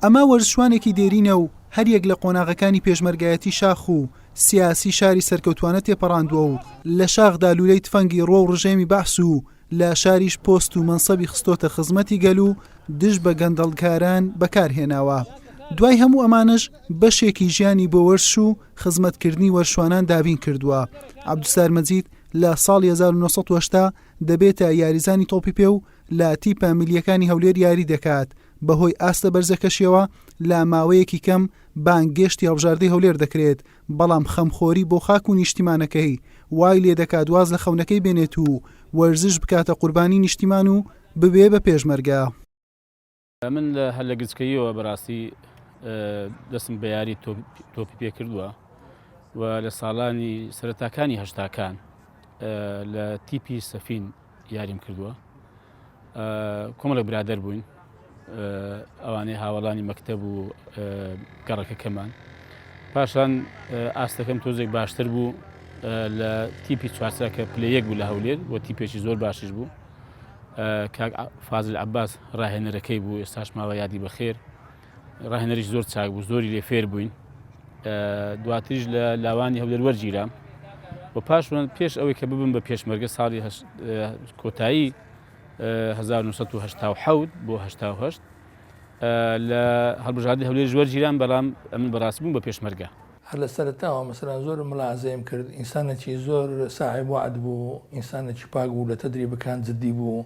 ئەمە وەرزشوانێکی دێرینە و هەریەک لە قۆناغەکانی پێشمەرگایەتی شاخ و سیاسی شاری سەرکەوتوانە تێپەڕاندووە و لە شاخدا لوولەی تفەنگی ڕۆ و ڕژێمی بەعس و لە شاریش پۆست و مەنسەبی خستۆتە خزمەتی گەل و دژ بە گەندەڵکاران بەکارهێناوە دوای هەموو ئەمانەش بەشێکی ژیانی بۆ وەرش و خزمەتکردنی وەرشوانان دابین کردووە عبدسار مەجید لە ساڵ 1970 دەبێتە یاریزانی تۆپی پێ و لە تیپە ملیەکانی هەولێر یاری دەکات، بەهۆی ئاستە بەرزەکەشیەوە لە ماوەیەکی کەم بانگێشتی هەڵبژاردەی هەولێر دەکرێت، بەڵام خەمخۆری بۆ خاک و نیشتیمانەکەی وای لێدەکات واز لە خەونەکەی بێنێت و وەرزش بکاتە قوربانی نیشتیمان و ببێ بە پێشمەرگە. من لە هەر لە گچکەییەوە بەڕاستی دەستم بە یاری تۆپی پێ کردووە و لە ساڵانی سەرتاکانی هەشتاکان لە تیپی سەفین یاریم کردووە کۆمەڵە برادەر بووین ئەوانەی هاوڵانی مەکتەب و گەڕەکەکەمان پاشان ئاستەکەم تۆزێک باشتر بوو لە تیپی چوارچاکە پلەیەک بوو لە هەولێر و تیپێکی زۆر باشش بوو کاک فازل عباس ڕاهێنەرەکەی بوو ئێستاش ماوە یادی بەخێر ڕاهێنەریش زۆر چاک بوو زۆری لێ فێر بووین دواتریش لە لاوانی هەولەر وەرگیرام و پاش من پێش ئەوەی کە ببم بە پێشمەرگە ساڵی کۆتایی 1970 بۆ 1970 لە هەڵبژاردی هەولێر ژوەر جیران بەڵام ئەمن بەڕاست بووم بە پێشمەرگە هەر لە سەرتاوە مەسەران زۆر ملازەیم کرد ئینسانەکی زۆر ساعێ وعد بوو ئینسانەکی پاک بوو لە تەدری بکان جددی بوو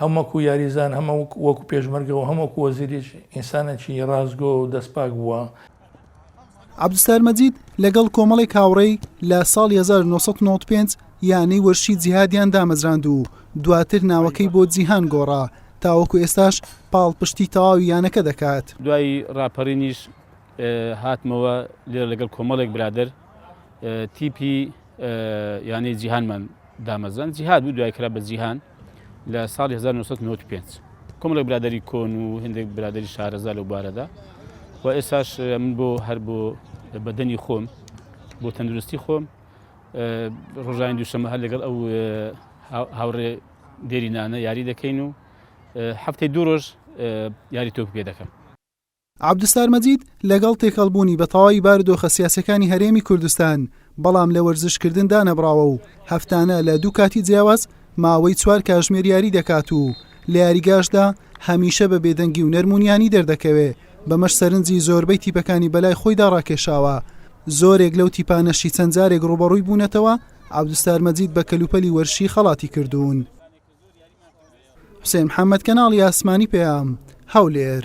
هەم وەکو یاریزان هەم وەکو پێشمەرگە و هەم وەکو وەزیریش ئینسانێکی ڕاستگۆ و دەستپاک بووە. عەبدولستار مەجید لەگەڵ کۆمەڵێک هاوڕێی لە ساڵی 1995 یانەی وەرشی جیهادیان دامەزراند و دواتر ناوەکەی بۆ جیهان گۆڕا، تاوەکو ئێستاش پاڵپشتی تەواوی یانەکە دەکات. دوای ڕاپەرینیش هاتمەوە لێرە لەگەڵ کۆمەڵێک برادەر تیپی یانەی جیهانمان. دامەزران جیهاد بوو دوای کرا بە جیهان لە ساڵی 1995 کۆمەڵێک برادری کۆن و هندێک برادری شارەزا لەو بارەدا و ئێساش من بۆ هەر بۆ بەدەنی خۆم بۆ تەندروستی خۆم ڕۆژانی دووشەمە هەر لەگەڵ ئەو هاوڕێ دێرینانە یاری دەکەین و هەفتەی دوو ڕۆژ یاری تۆپ پێ دەکەم عەبدوستار مەجید لەگەڵ تێکەڵبوونی بە تەواوی بارودۆخە سیاسییەکانی هەرێمی کوردستان، بەڵام لە وەرزشکردن دانەبڕاوە و هەفتانە لە دوو کاتی جیاواز ماوەی چوار کاژمێر یاری دەکات و لە یاریگاشدا هەمیشە بە بێدەنگی و نەرمونیانی دەردەکەوێ، بەمەش سەرنجی زۆربەی تیپەکانی بەلای خۆیدا ڕاکێشاوە، زۆرێک لەو تیپانەشی چەند جارێک ڕووبەڕووی بوونەتەوە، عەبدوستار مەجید بە کەلوپەلی وەرشی خەڵاتی کردوون. حوسێن محەمەد کەناڵی ئاسمانی پەیام هەولێر.